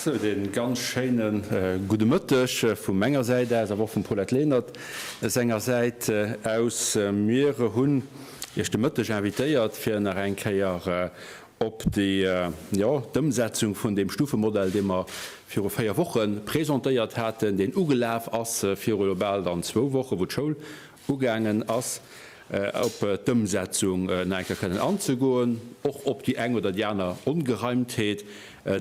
Sou, de ganz schéine gudde Mëtteg vu menger Säit aus, awer och vum Paulette Lenert senger Säit aus. Mir hunn Iech de Mëtteg invitéiert, fir nach eng Kéier op déi, jo, d'Ëmsetzung vun deem Stufemodell, dee mer viru véier Woche presentéiert haten, deen ugelaf ass viru elo bal dann zwou Wochen, wou d'Schoul Ugaangen ass, op d'Ëmsetzung nach eng Kéier kënnen anzegoen, och op déi eng oder déi aner Ongereimtheet,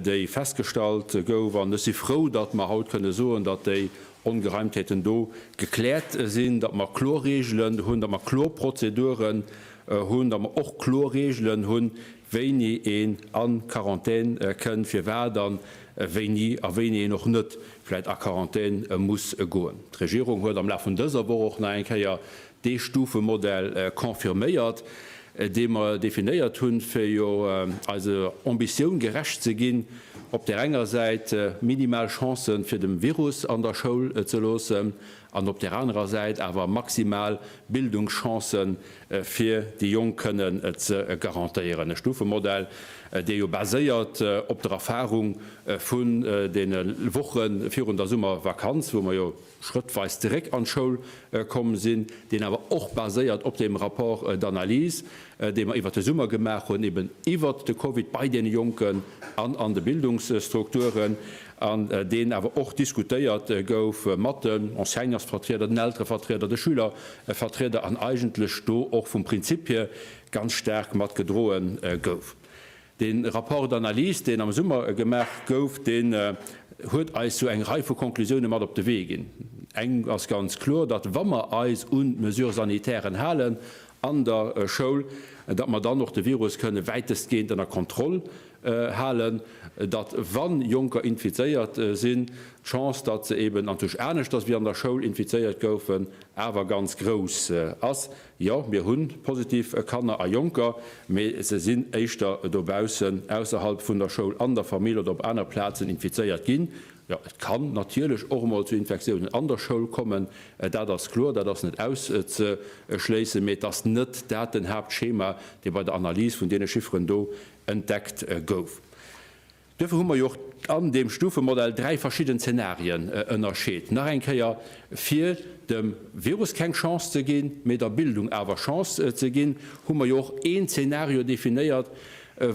déi festgestallt gouf. An ech si frou, datt mer haut kënne soen, datt déi Ongereimtheeten do gekläert sinn, datt mer kloer Regeln hunn, datt mer kloer Prozeduren hunn, datt mer och kloer Regeln hunn, wéini een a Quarantän kënn, firwat an wéini a wéini een och net vläit a Quarantän muss goen. D'Regierung huet am Laf vun dëser Woch och nach eng Kéier dee Stufemodell confirméiert, dee mer definéiert hunn, fir jo eiser Ambitioun gerecht ze ginn, op där enger Säit minimal Chancen fir dem Virus an der Schoul ze loossen, an op där anerer Säit awer maximal Bildungschancë fir déi Jonk kënnen ze garantéieren, e Stufemodell, dee jo baséiert op der Erfahrung vun deene Woche virun der Summervakanz, wou mer jo schrëttweis zeréck an d'Schoul komm sinn, deen awer och baséiert op deem Rapport d'analyse, dee mer iwwert de Summer gemaach hunn, eben iwwert de Covid bei deene Jonken an an de Bildungsstrukturen. an deen awer och diskutéiert gouf mat den Enseignersvertrieder, den Elterevertrieder, de Schülervertrieder an eigentlech do och vum Prinzip hir ganz staark mat gedroe gouf. Dee Rapport d'analyse, deen am Summer gemaach gouf, deen huet eis sou eng Rei vu Conclusioune mat op de Wee ginn. Eng ass ganz kloer, datt wa mer eis un d'Mesures sanitären halen an der Schoul, datt mer dann och de Virus kënne wäitestgehend ënner Kontroll halen, datt wann Jonker infizéiert sinn, d'Chance, datt se eben an tusch aneschters wéi an der Schoul infizéiert goufen, awer ganz grouss ass. Jo, mir hu positiv Kanner a Jonker, mee se sinn éischter dobaussen, ausserhalb vun der Schoul, an der Famill oder op aner Plazen infizéiert ginn. Jo, et kann natierlech och emol zu Infektiounen an der Schoul kommen, dat ass kloer, dat ass net auszeschléissen, mee et ass net dat den Haaptschema, dee bei der Analys vun deene Chifferen do entdeckt gouf. Duerfir hu mer jo och an deem Stufemodell dräi verschidden Zenarien ënnerscheet, nach eng Kéier, fir dem Virus keng Chance ze ginn, mee der Bildung awer Chance ze ginn, hu mer jo och een Zenario definéiert,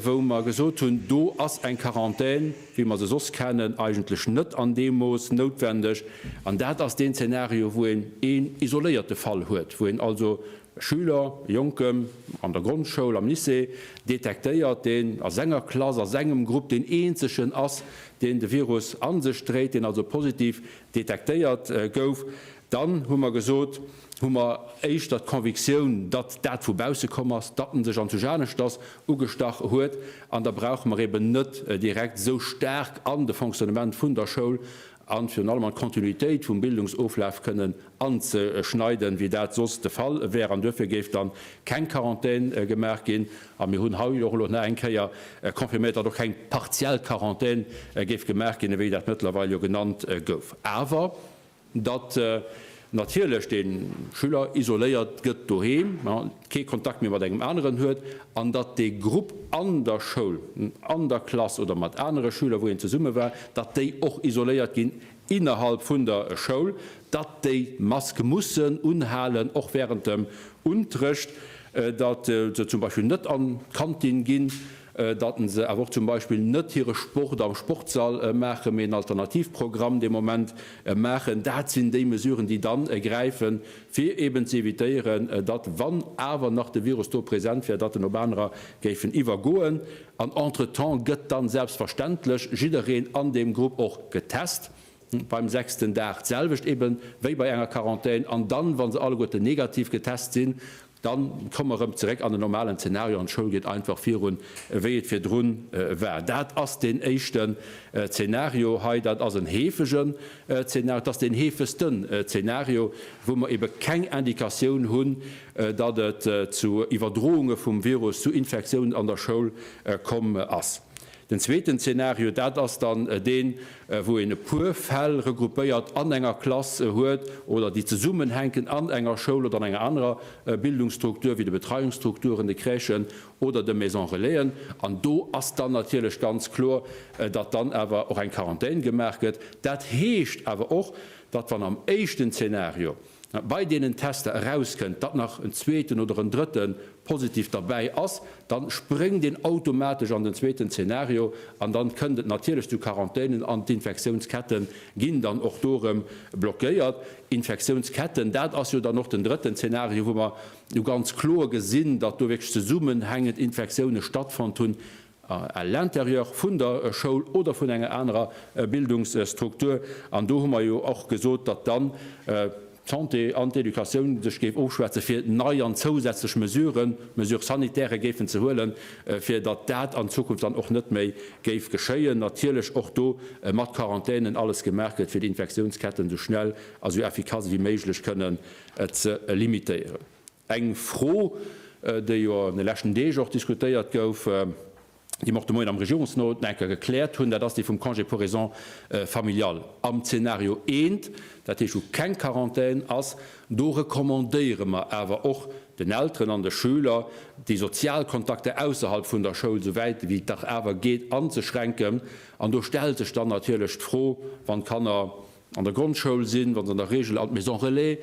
wou mer gesot hunn, do ass eng Quarantän, wéi mer se soss kennen, eigentlech net an deem Mooss noutwendeg. An dat ass deen Zenario, wou een een isoléierte Fall huet, wou een also Schüler, Jonken an der Grondschoul, am Lycée, detektéiert, deen a senger Klass, a sengem Grupp deen eenzegen ass, deen de Virus an sech dréit, deen also positiv detektéiert gouf, dann, hu mer gesot, hu mer éischter d'Convictioun, datt dat vu bausse komm ass, datt en sech anzwusch aneschters ugestach huet, an da brauche mer eben net direkt esou staark an de Fonctionnement vun der Schoul a virun allem an d'Kontinuitéit vum Bildungsoflaf kënnen anzeschneiden, wéi dat soss de Fall wär. An duerfir géif dann keng Quarantän gemaach ginn. A mir hunn hei och elo nach eng Kéier confirméiert, datt och keng partiell Quarantän géif gemaach ginn, ewéi dat mëttlerweil jo genannt gouf, awer datt, natierlech de Schüler isoléiert gëtt doheem, kee Kontakt méi mat engem aneren huet, an datt dee Grupp an der Schoul, an der Klass oder mat anere Schüler, wou een zesumme war, datt déi och isoléiert ginn innerhalb vun der Schoul, datt déi d'Mask mussen unhalen, och während dem Unterrecht, datt se zum Beispill net an d'Kantin ginn. datten se awer och zum Beispill net hire Sport am Sportsall maachen, mee en Alternativprogramm dee Moment maachen, dat sinn déi Mesuren, déi dann gräifen, fir eben ze evitéieren, datt, wann awer nach de Virus do present wär, datt en op anerer géifen iwwergoen. An entretemps gëtt dann selbstverständlech jiddereen an deem Grupp och getest. beim sechsten Dag d'selwecht eben wéi bei enger Quarantän, an dann, wa se alleguerten negativ getest sinn, dann komme mer erëm zeréck an den normalen Zeenario an d'Schoul geet einfach virun, wéi et virdrun war. Dat ass deen éischten Zeenario hei. Dat ass en heefegen Zeenario. Dat ass deen heefegsten Zeenario, wou mer eben keng Indikatioun hunn, datt et zu Iwwerdrounge vum Virus, zu Infektiounen an der Schoul komm ass. Den zweeten Zeenario, dat ass dann deen, wou een e puer Fäll regroupéiert an enger Klass huet oder déi zesummenhänken an enger Schoul oder an enger anerer Bildungsstruktur, wéi de Betreiungsstrukturen, de Crèchen oder de Maison-relaisen. An do ass dann natierlech ganz kloer, datt dann awer och eng Quarantän gemaach gëtt. Dat heescht awer och, datt, wann am éischten Zeenario, bei deenen Tester erauskënnt, datt nach en zweeten oder en drëtte positiv derbäi ass, da spréngt een automatesch an den zweeten Zeenario an da kënnt et natierlech zu Quarantänen an d'Infektiounsketten ginn dann och do erëm blockéiert. Infektiounsketten, dat ass jo dann och den drëtten Zeenario, wou mer jo ganz kloer gesinn, datt do wierklech zesummenhängend Infektioune stattfonnt hunn, à l'intérieur vun der Schoul oder vun enger anerer Bildungsstruktur. An do hu mer jo och gesot, datt dann d'Santé an d'Educatioun sech géif ofschwätze fir nei an zousätzlech Mesuren, Mesures sanitaires, géifen ze huelen, fir datt dat an Zukunft dann och net méi géif geschéien. Natierlech och do mat Quarantänen alles gemaach gëtt, fir déi Infektiounsketten esou schnell a esou effikass ewéi méiglech kënnen ze limitéieren. Eng Fro, déi jo an de leschten Deeg och diskutéiert gouf, déi mer och de Moien am Regierungsnot nach eng Kéier gekläert hunn, dat ass déi vum Congé pour raisons familiales. Am Zeenario 1, dat heescht wou keng Quarantän ass, do recommandéiere mer awer och den Elteren an de Schüler, déi sozial Kontakter ausserhalb vun der Schoul esou wäit wéi et dach awer geet anzeschränken. An do stellt sech dann natierlech d'Fro, wann d'Kanner an der Grondschoul sinn, wa se an der Regel an d'Maison relais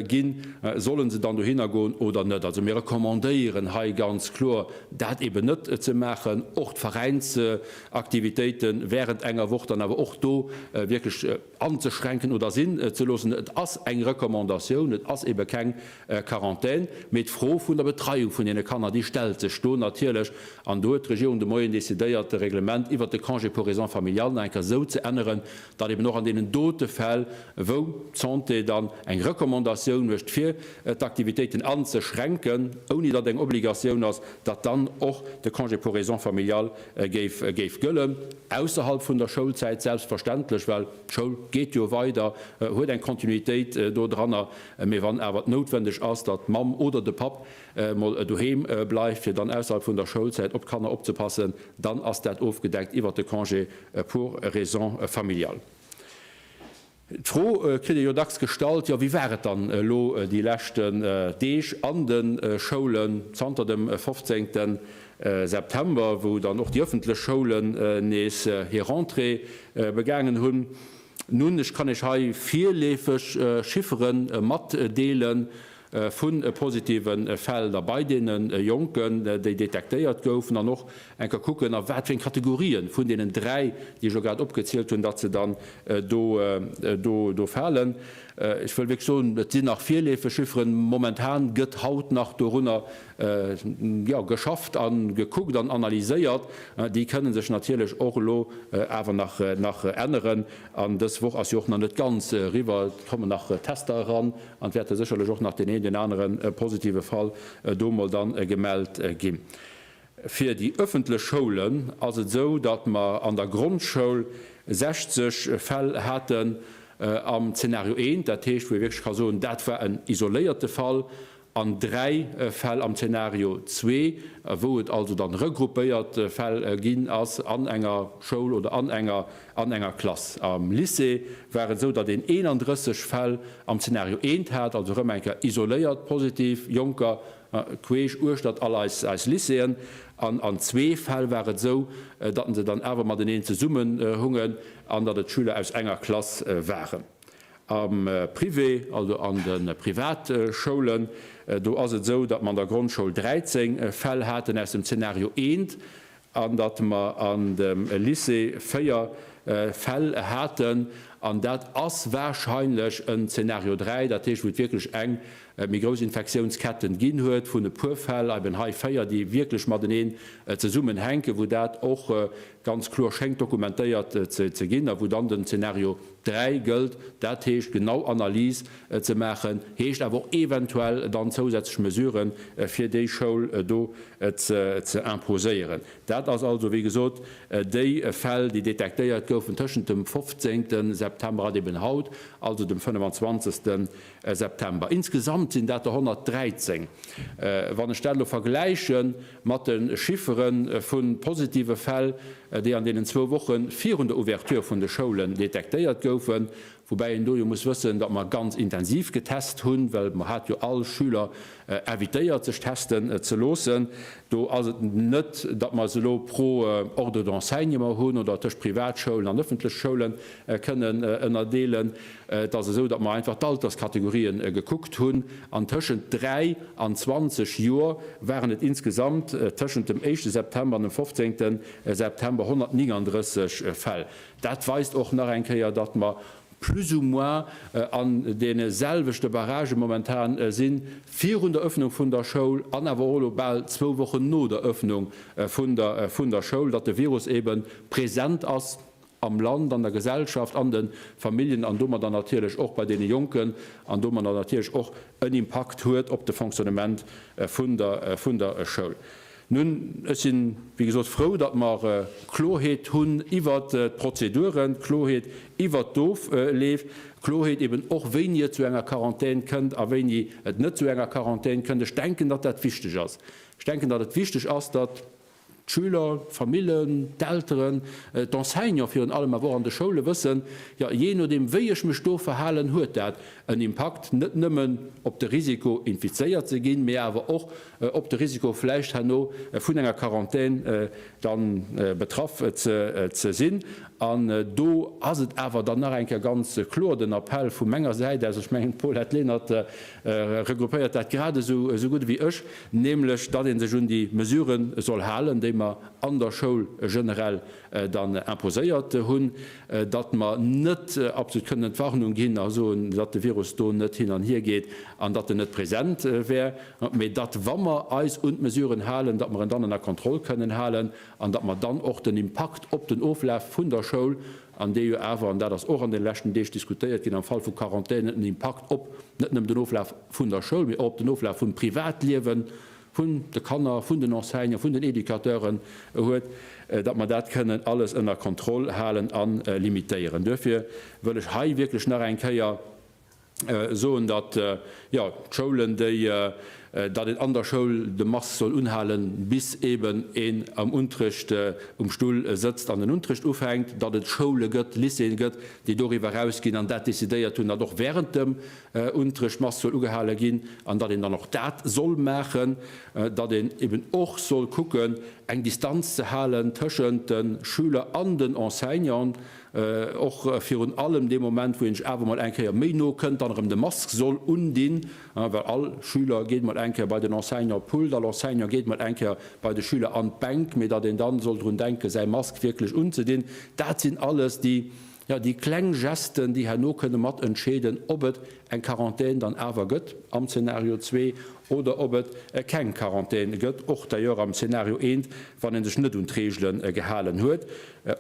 ginn, solle se dann dohinner goen oder net. Also mir recommandéieren hei ganz kloer, dat eeben net ze maachen. Och d'Veräinsaktivitéite während enger Woch dann awer och do wierklech anzeschränken oder sinn ze loossen. Et ass eng Recommandatioun, et ass eebe keng Quarantän. Mee d'Fro vun der Betreiung vun deene Kanner, déi stellt sech do natierlech. An do huet d'Regierung de Moien decidéiert, de Reglement iwwert de Congé pour raisons familiales nach eng Kéier esou ze änneren, datt eben och an deenen dote Fäll, wou d'Santé dann eng Recommandatioun mécht, fir d'Aktivitéiten anzeschränken, ouni datt eng Obligatioun ass, datt dann och de Congé pour raisons familiales géif gëllen, ausserhalb vun der Schoulzäit selbstverständlech, well d'Schoul geet jo weider, huet eng Kontinuitéit do dranner. Mee wann awer et noutwendeg ass, datt d'Mamm oder de Papp emol doheem bleift, fir dann ausserhalb vun der Schoulzäit op d'Kanner opzepassen, dann ass dat ofgedeckt iwwert de Congé Pour raisons familiales. D'Fro kritt ee jo dacks gestallt, jo, wéi war et dann elo déi leschten Deeg an de Schoulen, zanter dem 15. September, wou dann och déi ëffentlech Schoulen nees hir Rentrée begaangen hunn? Nun, ech kann Iech hei virleefeg Chiffere matdeelen, vun positive Fäll da bei deene Jonken, déi detektéiert goufen, an och eng ka kucken, a wat fir eng Kategorien vun deenen dräi, déi ech elo grad opgezielt hunn, datt se dann do falen. Ech wëll wierklech soen, et sinn nach virleefeg Chifferen. Momentan gëtt haut nach dorunner geschafft a gekuckt an analyséiert. Déi kënne sech natierlech och elo awer nach änneren. An dës Woch ass jo och nach net ganz eriwwer. Et kommen nach Tester eran, An et wäert der sécherlech och nach deen een, deen anere positive Fall do emol dann gemellt ginn. Fir déi ëffentlech Schoulen ass et esou, datt mer an der Grondschoul 60 Fäll haten am Zeenario 1, dat heescht, wou ee wierklech ka soen, dat war en isoléierte Fall, an dräi Fäll am Zeenario 2, wou et also dann regruppéiert Fäll ginn ass an enger Schoul oder an enger An enger Klass am Lycée war et esou, datt een 31 Fäll am Zeenario eent hat, also erëm eng Kéier isoléiert positiv Jonker queesch uechtert all eis Lycéeën. An an zwee Fäll war et esou, datt se dann awer mateneen zesummenhungen an datt et Schüler aus enger Klass waren. Am Privé, also an de Privatschoulen, do ass et esou, datt mer an der Grondschoul 13 Fäll haten aus dem Zeenario eent, an datt mer an dem Lycée véier Fäll haten, an dat ass wahrscheinlech en Zeenario 3, dat heescht, wou et wierklech eng méi grouss Infektiounsketten ginn huet vun e puer Fäll, eben hei véier, déi wierklech mateneen zesummenhänken, wou dat och ganz kloer schéngt dokumentéiert ze ginn a wou dann den Zeenario. 3 gëllt, dat heescht genau Analyse ze maachen, heescht awer och eventuell dann zousätzlech Mesure fir déi Schoul do ze imposéieren. Dat ass also, wéi gesot, déi Fäll, déi detektéiert goufen tëschent dem 15. September an eben haut, also dem 25. September. Insgesamt sinn dat der 113, wann ech dat elo vergläichen, Mat de Chiffere vu positive Fäll, déi an deenen zwou Woche virun der Ouverture vun de Schoulen detektéiert goufen, woubäi een do jo muss wëssen, datt mer ganz intensiv getest hunn, well mer hat jo all Schüler invitéiert, sech testen ze loossen, do ass et net, datt mer se elo pro Ordre d'Enseignement hunn oder tëscht Privatschoulen an ëffentlech Schoulen kënnen ënnerdeelen. Et ass esou, datt mer einfach d'Alterskategorien gekuckt hunn, an tëschent 3 an 20 Joer waren et insgesamt tëschent dem éischte September an dem 15. September 139 Fäll. Dat weist och nach eng Kéier, datt mer plus ou moins an deene selwechte Barragë momentan sinn, virun der Ëffnung vun der Schoul an awer och elo bal zwou Wochen no der Ëffnung vun der Schoul, datt de Virus eebe present ass. am Land, an der Gesellschaft, an de Familljen an domadder natierlech och bei deene Jonken an domadder natierlech och en Impakt huet op de Fonctionnement vun der Schoul. Nun, ech sinn, wéi gesot, frou, datt mer Klorheet hunn iwwert d'Prozeduren, Klorheet iwwert d'Ofleef, Klorheet eben och, wéini et zu enger Quarantän kënnt a wéini et net zu enger Quarantän kënnt. Ech denken, datt dat wichteg ass. Ech denken, datt et wichteg ass, datt. D'Schüler, d'Famillen, d'Elteren, d'Enseignants virun allem, awer och an de Schoule wëssen, jo, jee nodeem wéi ech mech do verhalen, huet dat en Impakt net nëmmen op de Risiko infizéiert ze ginn, mee awer och op de Risiko vläicht herno vun enger Quarantän dann betraff ze sinn. An do ass et awer dann nach eng Kéier ganz kloer den Appell vu menger Säit aus, ech mengen d'Paulette Lenert regroupéiert dat gradesou gutt ewéi ech, nämlech datt ee sech un déi Mesurë soll halen, déi mer an der Schoul generell dann imposéiert hunn, datt mer net absolut kënnen d'Warnung ginn a soen, datt de Virus do net hin an hier geet an datt en net present wär, mä datt, wa mer eis un d'Mesuren halen, datt mer en dann ënner Kontroll kënnen halen an datt mer dann och den Impakt op den Oflaf vun der Schoul, an dee jo awer, an dat ass och an de leschten Deeg diskutéiert ginn, am Fall vu Quarantänen en Impakt op net nëmmen den Oflaf. vun der Schoul, mee och op den Oflaf vum Privatliewen vun de Kanner, vun den Enseignanten, vun den Educateuren huet, datt mer dat kënnen alles ënner Kontroll halen a limitéieren. Duerfir wëll ech hei wierklech nach eng Kéier soen, datt, jo, d'Schoulen, déi, datt een an der Schoul de Masque soll unhalen, bis eeben een am Unterrecht um Stull sëtzt an den Unterrecht ufänkt, datt et Schoule gëtt, Lycéeën gëtt, déi doriwwer erausginn an dat decidéiert hunn, datt och während dem un d'Dréchmasszuel ugehale ginn, an datt een dann och dat soll maachen, datt een eben och soll kucken, eng Distanz ze halen tëschent de Schüler an den Enseignanten, och virun allem dee Moment, wou een sech awer emol eng Kéier méi no kënnt, dann erëm de Mask soll undinn, well all Schüler geet emol eng Kéier bei den Enseignant op d'Pult, all Enseignant geet emol eng Kéier bei de Schüler an d'Bänk, mee datt een dann soll drun denken, säi Mask wierklech unzedinn. Dat sinn alles déi Jo, déi kleng Gesten, déi herno kënne mat entscheeden, ob et eng Quarantän dann awer gëtt am Zeenario zwee oder ob et keng Quarantän gëtt, och d'ailleurs am Zeenario eent, wann ee sech net un d'Reegele gehalen huet.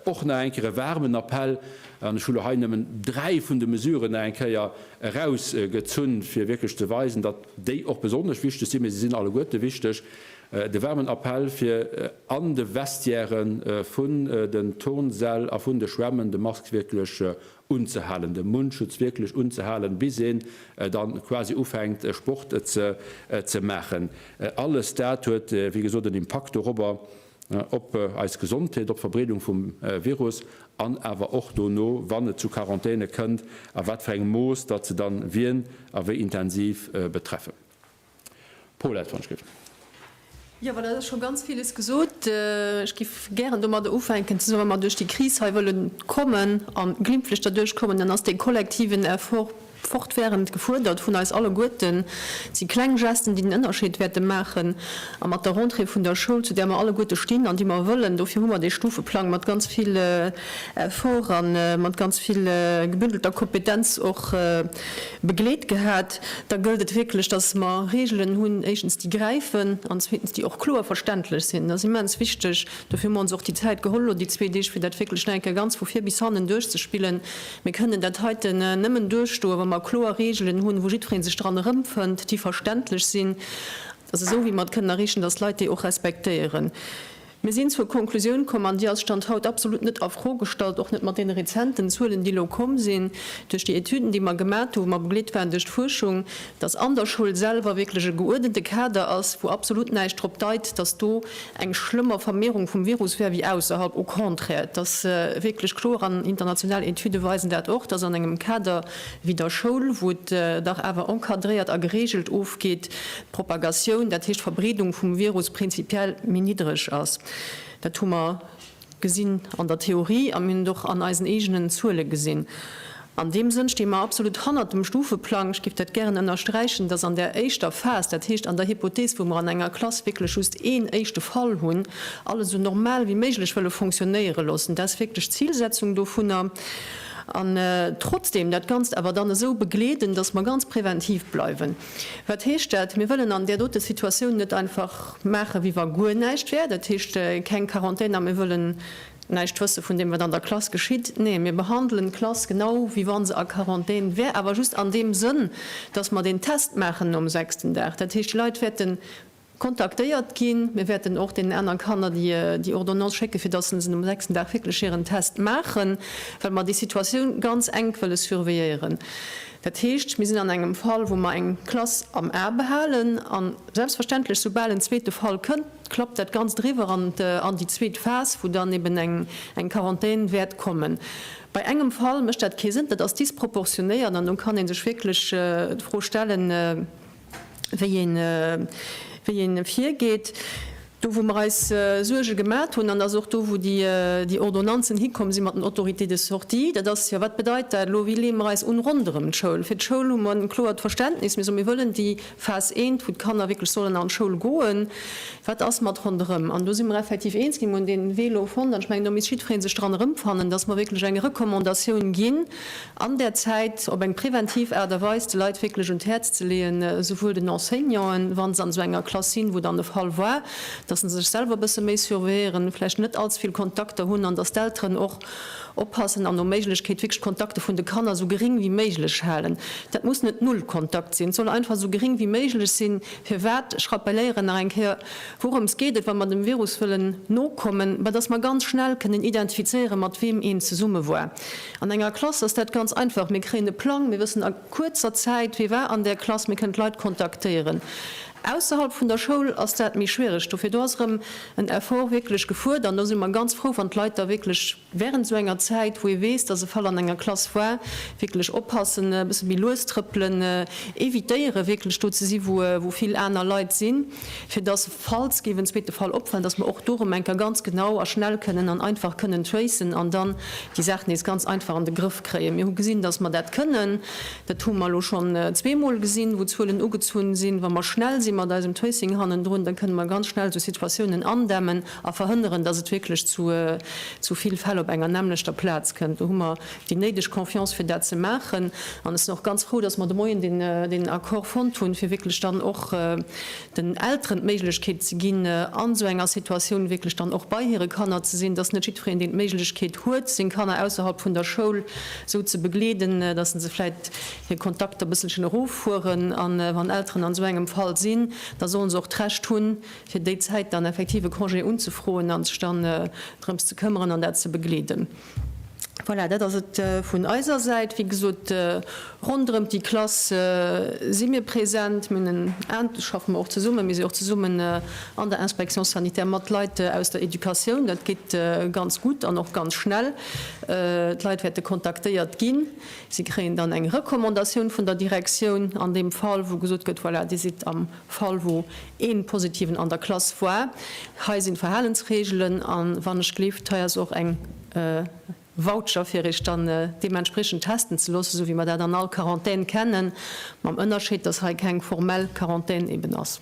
Och nach eng Kéier e waarmen Appell, an ech hu lo hei nëmmen dräi vun de Mesuren nach eng Kéier erausgezunn, fir wierklech ze weisen, datt déi och besonnesch wichteg sinn, mä se sinn alleguerte wichteg, De waarmen Appell fir an de Vestiäre vun den Turnsäll a vun de Schwämmen de Mask wierklech unzehalen, de Mundschutz wierklech unzehalen, bis een dann quasi ufänkt Sport ze maachen. Alles dat huet wéi gesot en Impakt dorobber, op eis Gesondheet, op d'Verbreedung vum Virus an awer och dono, wann et zu Quarantäne kënnt, a wat fir engem Mooss datt se dann wien a wéi intensiv betreffen. Pol hat d'Wonschschrift. Jo, well et ass scho ganz villes gesot. Ech géif gären domadder ufänken, dass wa mer duerch déi Kris hei wëlle kommen a glimpflech derduerch kommen, dann ass dee kollektiven Effort fortwährend gefuerdert vun eis alleguerten. Et si kleng Gesten, déi den Ënnerscheed wäerte maachen. A mat der Rentrée vun der Schoul, zu där mer alleguerte stinn an déi mer wëllen, dofir hu mer dee Stufeplang mat ganz vill Effort a mat ganz vill gebündelter Kompetenz och begleet gehat. Da gëllt et wierklech, dass mer Regeln hunn, éischtens, déi gräifen, an zweetens, déi och kloer verständlech sinn. Dat ass immens wichteg. Dofir hu mer ons och déi Zäit geholl elo déi zwee Deeg, fir dat wierklech nach eng Kéier ganz vu vir bis hannen duerchzespillen. Mir kënnen dat heiten nëmmen duerchstoen, wa mer kloer Regeln hunn, wou jiddweree sech dran erëmfënnt, déi verständlech sinn. Dat ass esou, wéi mer et kënnen erreechen, dass d'Leit déi och respektéieren. Mir sinn zur Konklusioun komm, an déi ass Stand haut absolut net a Fro gestallt, och net mat deene rezenten Zuelen, déi elo komm sinn duerch déi Etüden, déi mer gemat hu wou mer begleet waren duerch d'Fuerschung, dass an der Schoul selwer wierklech e geuerdente Kader ass, wou absolut näischt drop deit, dass do eng schlëmmer Vermehrung vum Virus wär wéi ausserhalb. Au contraire, et ass wierklech kloer, an international Etüde weisen dat och, dass an engem Kader wéi der Schoul, wou et dach awer encadréiert a geregelt ofgeet, Propagatioun, dat heescht d'Verbreedung vum Virus, prinzipiell méi niddreg ass. Dat hu mer gesinn an der Theorie a mir hunn et och an eisen eegenen Zuele gesinn. An deem Sënn sti mer absolut hannert dem Stufeplang. Ech géif dat gären ënnersträichen, dass an där éischter Phas, dat heescht an der Hypothees, wou mer an enger Klass wierklech just een éischte Fall hunn, alles esou normal wéi méiglech wëlle fonctionnéiere loossen. Dat ass wierklech d'Zilsetzung dovunner. An trotzdeem dat Ganzt awer dann esou begleeden, dass mer ganz preventiv bleiwen. Wat heescht dat? Mir wëllen an där dote Situatioun net einfach maachen, wéi wa guer näischt wär, dat heescht keng Quarantän a mir wëllen näischt wësse vun deem, wat an der Klass geschitt. Nee, mir behandelen d'Klass genau, wéi wa se a Quarantän wär, awer just an deem Sënn, dass mer deen Test maachen nom sechsten Dag. Dat heescht, déi Leit wäerten Kontaktéiert ginn. Mir wäerten och deenen aneren Kanner déi Ordonnance schécken, fir dass se um sechsten Dag wierklech hiren Test maachen, well mer déi Situatioun ganz enk wëlle surveilléieren. Dat heescht, mir sinn an engem Fall, wou mer eng Klass am A behalen, a selbstverständlech, soubal en zweete Fall kënnt, klappt dat Ganzt eriwwer an déi zweet Phas, wou dann eben eng Quarantän wäert kommen. Bei engem Fall mécht dat kee Sënn, dat ass disproportionéiert an do kann ee sech wierklech d'Fro stellen, wéi ee virgeet. Do, wou mer eis Suerge gemat hunn, an dat ass och do, wou déi Ordonnanzen hikomm si mat den Autorités de sortie, dat ass, jo, wat bedeit dat elo, wéi leeë mer eis un ronderëm d'Schoul? Fir d'Schoul hu mer e kloert Verständnis. Mir soen, mir wëllen déi Phas eent, wou d'Kanner wierklech sollen an d'Schoul goen. Wat ass mat ronderëm? An do si mer effektiv eens ginn. Mir hunn dee Wee elo fonnt. An ech mengen, do misst jiddweree sech dran erëmfannen, dass mer wierklech eng Recommandatioun ginn, an där Zäit op eng preventiv Aart a Weis de Leit wierklech un d'Häerz ze leeën, souwuel den Enseignanten, wa se an esou enger Klass sinn, wou dann de Fall war, dass se sech selwer e bësse méi surveilléieren, vläicht net allze vill Kontakter hunn an dass d'Elteren och oppassen an no Méiglechkeet wierklech d'Kontakte vun de Kanner esou geréng wéi méiglech halen. Dat muss net null Kontakt sinn, et soll einfach esou geréng wéi méiglech sinn. Firwat? Ech rappelléieren nach eng Kéier, Wourëms geet et, wa mer dem Virus wëllen nokommen? Bah, dass mer ganz schnell kënnen identifizéieren, mat weem een zesumme war. An enger Klass ass dat ganz einfach, mir kréien e Plang, mir wëssen a kuerzer Zäit, wie war an där Klass, mir kënnen d'Leit kontaktéieren. Ausserhalb vun der Schoul ass dat méi schwiereg, dofir do ass erëm en Effort wierklech gefuert an do si mer ganz frou, wann d'Leit da wierklech während esou enger Zäit, wou ee weess, dass e Fall an enger Klass war, wierklech oppassen, e bësse méi lues trëppelen, evitéiere wierklech do ze si wou vill aner Leit sinn. fir dass, falls géif en zweete Fall opfallen, dass mer och do erëm eng Kéier ganz genau a schnell kënnen an einfach kënnen tracen an dann déi Saach nees ganz einfach an de Grëff kréien. Mir hu gesinn, dass mer dat kënnen. Dat hu mer elo schonn zweemol gesinn, wou Zuelen ugezunn sinn. Wa mer schnell si mat eisem Tracing hannendrun, da kënne mer ganz schnell esou Situatiounen andämmen a verhënneren, dass et wierklech zu vill Fäll op enger nämmlechter Plaz kënnt. déi néideg Confiance fir dat ze maachen. An ech sinn och ganz frou, datt mer de Moien deen Accord fonnt hunn, fir wierklech dann och den Elteren d'Méiglechkeet ze ginn, an esou enger Situatioun wierklech dann och bei hire Kanner ze sinn. Et ass net jiddwereen, deen d'Méiglechkeet huet, seng Kanner ausserhalb vun der Schoul esou ze begleeden, datt se vläicht hir Kontakter e bësselchen eroffueren. A wann Elteren an esou engem Fall sinn, da solle se och d'Recht hunn, fir déi Zäit dann effektiv e Congé unzefroen an sech dann drëms ze këmmeren an dat ze begleeden. Voilà, dat ass et vun eiser Säit. Wéi gesot, ronderëm déi Klass si mir present. Mir hunn en, schaffe mer och zesummen, mir sinn och zesummen an der Inspection sanitaire mat Leit aus der Educatioun. Dat geet ganz gutt an och ganz schnell. D'Leit wäerte kontaktéiert ginn. Si kréien dann eng Recommandatioun vun der Direktioun an deem Fall, wou gesot gëtt, Voilà, Dir sidd am Fall wou een positiven an der Klass woar. Hei sinn d'Verhalensregelen an wann ech gelift hei ass och eng Voucher fir iech dann deementspriechend testen ze loossen sou wéi mer dat an all Quarantän kennen mam Ënnerscheed dass hei keng formell Quarantän eben ass.